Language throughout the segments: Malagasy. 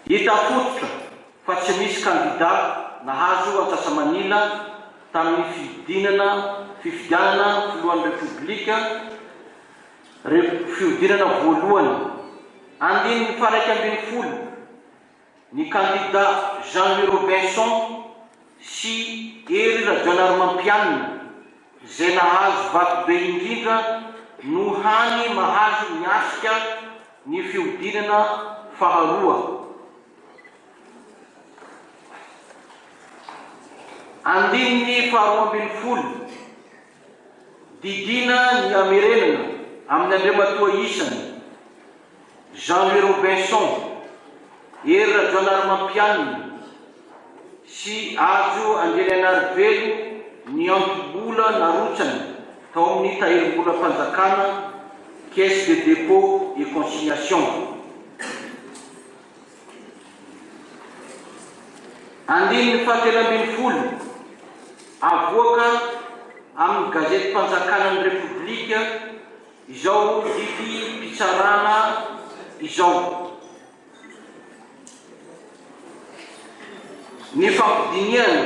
Hita fototra fa tsy misy kandida nahazo antsasa-manila tamin'ny fihodinana fifidianana filohan'ny Repoblika re fihodinana voalohany, andininy faha-iraika ambin'ny folo. Ny kandida Jean Louis Robinson sy Hery Rajaonarimampianina izay nahazo vato be indrindra no hany mahazo miatrika ny fihodinana faharoa andininy faharoa ambin'ny folo. Didiana ny hamerenana amin'ny Andriamatoa isany, Jean Louis Robinson, Hery Rajaonarimampianina sy Hajo Andrianaianarivelo ny antom-bola narotsany tao amin'ny Tahirimbolam-panjakana, Caisse de dépôt et consignation. Andininy fahatelo ambin'ny folo, Avoaka amin'ny Gazetim-panjakana ny Repoblika izao didim-pitsarana izao. Nifampidinihana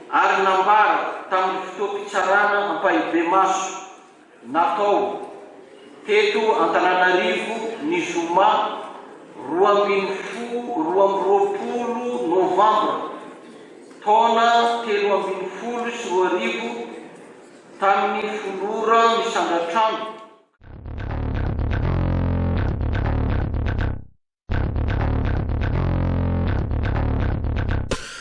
ary nambara tamin'ny fotoam-pitsarana ampahibemaso. Natao, teto Antananarivo, ny zoma roa ambin'ny folo roa amby roapolo novambra, taona telo ambin'ny folo sy roa arivo, tamin'ny folo ora misandratrano.